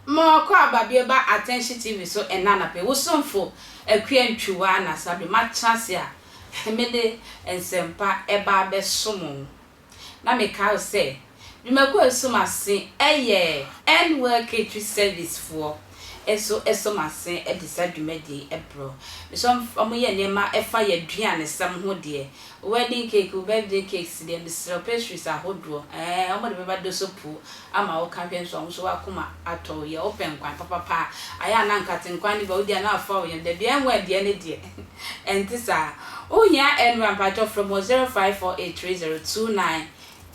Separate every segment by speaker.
Speaker 1: Ma ɔkɔ aba bi ɛba Attention TV so ɛnnɛ anapa yi. Wo somfo Akua Ntwiwa Anasabere. M'atra ase a mede nsɛmpa ɛba abɛsom wo. na mekae sɛ, Dwumakuo a ɛso m'ase yɛ End Well Catering Service foɔ nso so m'ase de saa dwumadie yi brɛ. Mesɛ wɔyɛ nneɛma a ɛfa yɛn aduanesɛm ho deɛ, wedding cake, birthday cakes deɛ, mesrɛ wo, pastries ahodoɔ, ɛɛ, wɔde bɛba dosopuo ama wo ka hwɛ nso ɔmo nso wakoma atɔ wo yɛ ɔpɛ nkwa papapa a ayɛ a na nkate nkwa ne bɛ wo deɛ na afa wo yɛm dabi ɛnwo ɛdeɛ ne deɛ ɛnte saa wo hia ɛnra mpakyɛw frɛ mu wɔ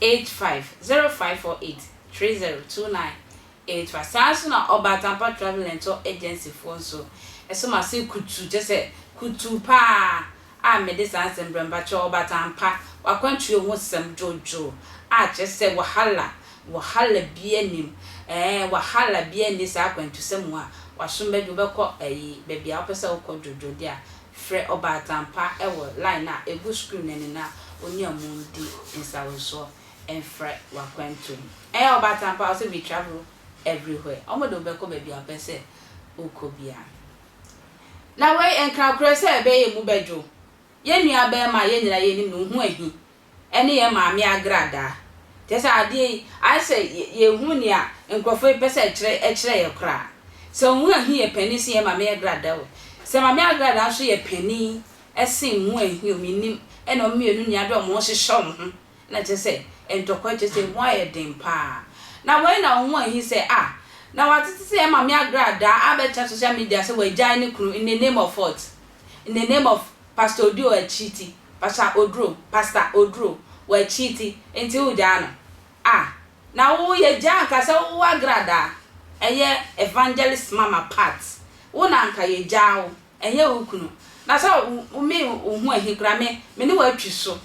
Speaker 1: 0548302985 0548302985 saa nso na ɔba atampa travel and tour agency foɔ nso ɛso ma se kutu kyɛ sɛ kutu paa a mede saa nsɛmbrɛmba kyerɛ ɔba Tampa w'akwantuo ho sɛm dwodwo a kyerɛ sɛ wahala wahala bia nim ɛɛ wahala bia nni saa akwantusɛm mu a w'asom bɛdwo bɛkɔ ɛyi bɛbia wopɛ sɛ wokɔ dwodwo de a frɛ ɔba Tampa ɛwɔ line a ɛgu screen no ani na ɔne ɔmo ndi nsawosoɔ mfrɛ w'akwantuo mu ɛɛ ɔba Tampa ɔsɛ we travel everywhere ɔmo de wobɛkɔ bɛbia wopɛ sɛ wokɔ bia. Na wei nkrakorɛ sɛ ɛbɛyɛ emu bɛdwo. Yɛn nua barima a yɛn nyinaa yɛnim no, wo ho ahi, ɛne yɛn maame agradaa. Kyerɛ sɛ adeɛ yi, ayɛ sɛ yɛnhu nea nkurɔfoɔ yi pɛ sɛ ɛkyerɛ ɛkyerɛ yɛn koraa. Sɛ wo ho ahi yɛ panin sen yɛn maame agradaa o, sɛ maame agradaa nso yɛ panin sen wo ho ahi o, mennim, ɛna wɔn mmienu nyinaa de wɔn ho hyehyɛ wɔn ho Na kyerɛ sɛ, ntɔkwa kyerɛ sɛ ehu ayɛ den paa. Na wei na ohuu ahi sɛ, ah, na watete sɛ yɛn Maame Agradaa abɛtra social media sɛ wagyae ne kunu in the name of what? In the name of Pastor Oduo akyiti, Pastor Oduro, Pastor Oduro, wakyiti nti wogyaa no? Ah, na wo yɛgyaa anka sɛ wo Agradaa, ɛyɛ Evangelist Mama Pat, wo na anka yɛgyaa wo, ɛnyɛ wo kunu. Na sɛ wo, me, wo ho ahi koraa, me, me ne wo atwi so.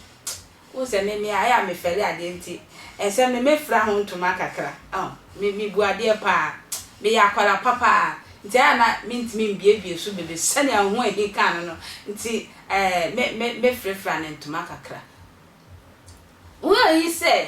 Speaker 1: Wohu sɛ me mmea a me fɛre adeɛ nti nsɛm no me fira ho ntoma kakra oh me me bu adeɛ paa me yɛ akwara pa paa nti a na me ntumi mbiebie so bebe sɛnea wo ho ahi kaa no no nti eh me me me fre fra no ntoma kakra Wohu ahi sɛ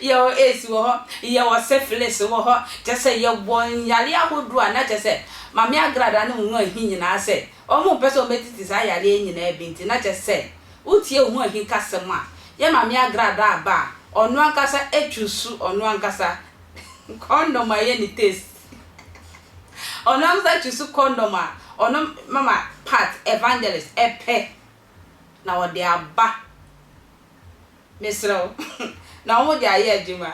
Speaker 1: Yɛwɔ AIDS wɔ hɔ, yɛwɔ syphilis wɔ hɔ, kyerɛ sɛ yɛwɔ nyareɛ ahodoɔ a na kyerɛ sɛ Mame Agrada ne Ohunu Ahi nyinaa sɛ wɔn mpɛ sɛ wɔbɛtete saa yareɛ yi nyinaa bi nti na kyerɛ sɛ wotie Ohunu Ahi kasɛm a yɛ Mame Agrada aba a ɔno ankasa chuusu ɔno ankasa condom a ɛyɛ ne taste ɔno ankasa chuusu condom a ɔno Mama Pat Evangelist pɛ na wɔde aba mesrɛ wo na wɔn de ayɛ adwuma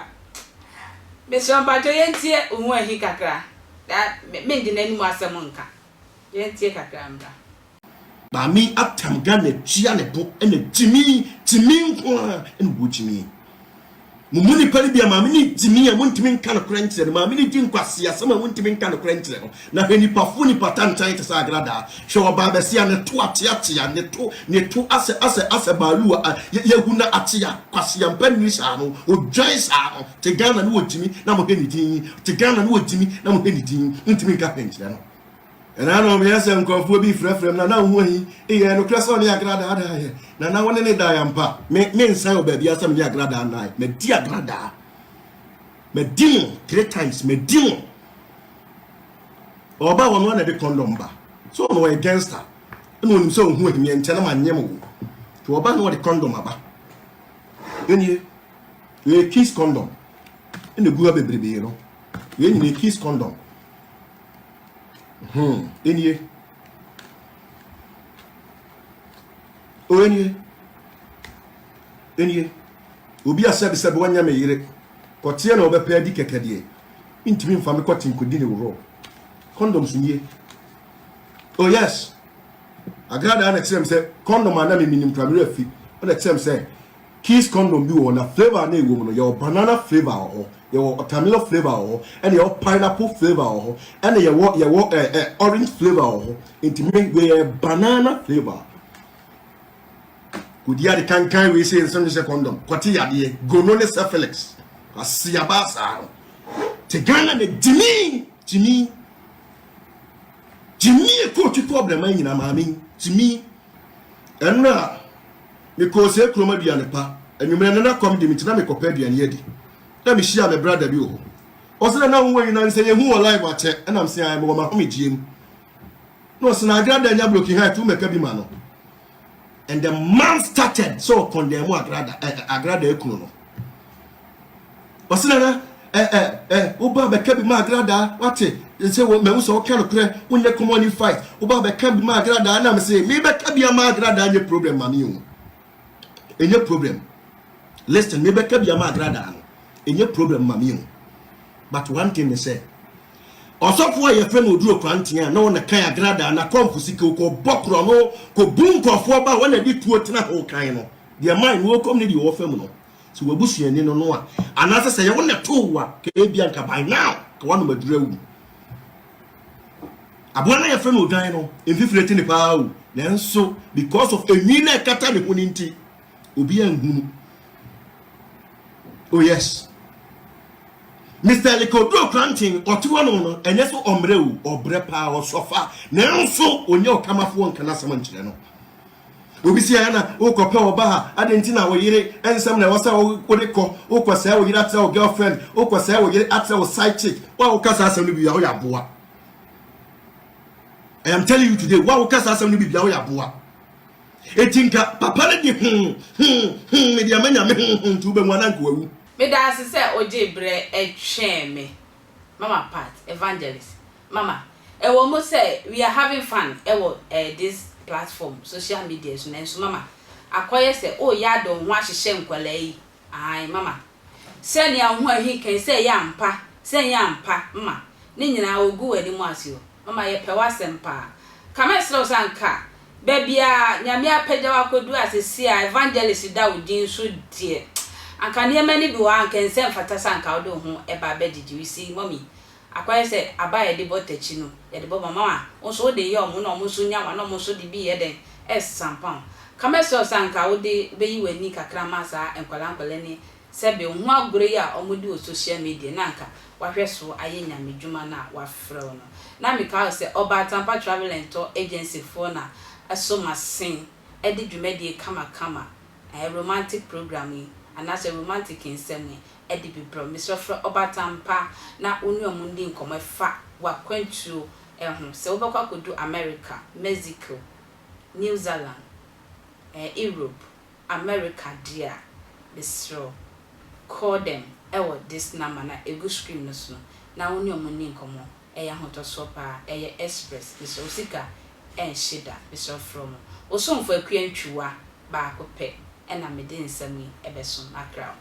Speaker 1: mesrɛ wo mpakyɛw yɛntie oho ahi kakra na mengye n'anim asɛm nka yɛntie kakra mmra. Maame
Speaker 2: atam Ghana tua ne bo na gyimii gyimii nko ara na ɔwɔ gyimii Mo mu nnipa no bi a maame no di ni a montumi nka nokorɛ nkyerɛ no, maame no di nkwaseasɛm a montumi nka nokorɛ nkyerɛ no. Na hwɛ nnipa fo nnipa tantan te sɛ agradaa, hwɛ ɔbaa bɛsia ne to ateatea ne to ne to asɛ asɛ asɛ baaluu a yɛahu no atea, kwaseampa nni saa no, odwan saa no, te Ghana ne wɔgyimi na mohwɛ ne din, te Ghana ne wɔgyimi na mohwɛ ne din, montumi nka hwɛ nkyerɛ no. Henanom yɛn sɛ nkurɔfoɔ bi frɛfrɛm na na wohu ahi? Eyɛ nokorɛ sɛ ɔne Agra daadaa yɛn, na na wone no dae ampa? Me, mensan wɔ baabiara sɛ me ne Agra daa nnae. Madi Agra daa. Madi no three times. Madi no. Ɔba a ɔno ara na ɛde kɔndɔm ba. So ɔno ɔyɛ gangster. Ɛna ɔnim sɛ ɔhu ahimyɛ nkyɛn na manyɛ mo wo. Nti ɔba na ɔde kɔndɔm aba. Ɛnie, ɛyɛ kiss kɔndɔm. Ɛna gu ha bebrebe no. Yɛn nyina kiss kɔndɔm. Hmm, enie. O enie. Enie. Obi a sɛbesɛbe wanya me yere, kɔteɛ na ɔbɛpɛ adi kɛkɛ deɛ, ntumi mfa me kɔte nkɔdi ne worɔ. Condoms nie. Oh yes. Agradaa na ɛkyerɛ me sɛ condom a na me menim kura me werɛ afi. Ɔna ɛkyerɛ me sɛ Kiss condom bi wɔ hɔ na flavour a na ɛwɔ mu no, yɛwɔ banana flavour wɔ hɔ, yɛwɔ watermelon flavour wɔ hɔ, ɛna yɛwɔ pineapple flavour wɔ hɔ, ɛna yɛwɔ yɛwɔ eh, eh, orange flavour wɔ hɔ. Nti me, wei yɛ banana flavour. Kɔdi ade kankan wei sɛ nsɛm hyɛ condom, kɔte yadeɛ, gono ne syphilis. Aseaba saa no. Te Ghana na gyimi, gyimi. Gyimi ɛkɔ otwitɔ ɔbrɛman nyina maame, gyimi. Ɛno a, Mekɔɔ saa kurom aduanpa anwummerɛ na na kɔm de me nti na mekɔpɛ aduane adi na me hyiaa me brada bi wɔ hɔ ɔse na na wowɔ nyina nsɛ yɛhu wɔ live akyɛ ɛna mse ae mewɔ mahomegyeɛ mu na ɔse na agrada nya broken heart wo mɛka bi ma no and the man started sɛ ɔkɔndɛn mu agrada eh, agrada akunu no Ɔse nana eh eh eh woba bɛka bi ma agradaa wate nse wo mahu sɛ woka nokorɛ wonyɛ common ni fight woba bɛka bi ma agradaa na mese me bɛka bi ama agradaa nyɛ problem ma me o ɛnyɛ problem listen me bɛka bi ama agradaa no ɛnyɛ problem ma me o but one thing ne sɛ ɔsɔfo a yɛfrɛ no oduro kwanteɛ a na ɔna kan agradaa na kɔmfo sika okɔ bɔ korɔ no kɔ bu nkurɔfoɔ ba wɔn na de tuo tena ho kan no deɛ man no wɔkɔm ne deɛ wɔfa mu no sɛ w'abusuani no no a anaasɛ sɛ yɛ wo na too wo a ka ebia nka by now ka woanom aduru awu aboa no yɛfrɛ no odwan no mfifire te ne paa o nanso because of enwi na ɛkata ne ho no nti obi anhunu oh yes mr likodo kranten ɔte hɔ no no ɛnyɛ sɛ ɔmmerɛ o ɔbrɛ paa ɔsɔfa nanso ɔnyɛ ɔkamafoɔ nka no asɛm nkyerɛ no Obi si ayɛ na wokɔpɛ ɔbaa, adɛn nti na wo yere nsɛm na ɛwɔ sɛ wode kɔ? Wokɔsɛe wo yere atrɛ wo girlfriend, wokɔsɛe wo yere atrɛ wo side chick. Wo a woka saa asɛm no biribi a, woyɛ aboa. I am telling you today, wo a woka saa asɛm no biribi a, woyɛ aboa. Eti nka papa no de hoo, hoo, hoo, mede ama Nyame hoo, hoo, nti wobɛhu anaa nka wawu. Meda ase sɛ
Speaker 1: ogyee berɛ twee me. Mama Pat, Evangelist Mama, ɛwɔ mu sɛ we are having fun wɔ eh this platform, social media so nanso Mama, akɔyɛ sɛ oh yɛ ade wo ho ahyehyɛ nkwadaa yi, ae Mama, sɛ nea wo ho ahi kɛn sɛ ɛyɛ ampa, sɛ ɛnyɛ ampa Mama, ne nyinaa ogu w'anim ase o, Mama yɛpɛ w'asɛm paa, ka mɛsrɛ wo sɛ anka Baabi a Nyame apagya wo akɔduru a sesie a evangelist da wo din so deɛ anka nneɛma no bi wɔ hɔ a anka ɛnsɛ mfata sɛ anka wode wo ho ba abɛgyegye. You see mummy, akɔyɛ sɛ aba a yɛde bɔ takyi no yɛde bɔ ma wɔn a wo nso wode yɛ wɔn na wɔn nso nya wo a na wɔn nso de bi yɛ dɛn ɛresasampa wo. Ka mɛsrɛ wo sɛ anka wode wobɛyi w'ani kakra ma saa nkwadaa nkwadaa ni Sɛ bɛ hu agoru yi a ɔmo di wɔ social media na anka w'ahwɛ so ayɛ nyame dwuma no a w'afrɛ wo no. Na me kae wo sɛ ɔba atampa travel and tour agency foɔ na ɛso m'asen ɛde dwumadie kama kama ɛɛ romantic program yi anaa sɛ romantic nsɛm yi ɛde bi brɛ wo. Me srɛ frɛ ɔba atampa na wo ne ɔmo ndi nkɔmɔ ɛfa w'akwantuo ɛho sɛ wo bɛkɔ akɔdu America, Mexico, New Zealand, ɛɛ Europe, America deɛ a mesrɛ wo call them ɛwɔ this number na ɛgu screen no so no na wo ne ɔmo nni nkɔmɔ ɛyɛ ahotɔsoɔ paa ɛyɛ express mesrɛ wo sika ɛnhye da mesrɛ wo frɛ ɔmo Osomfo Akua Ntwiwa baako pɛ ɛna mede nsɛm yi ɛbɛso makra wo.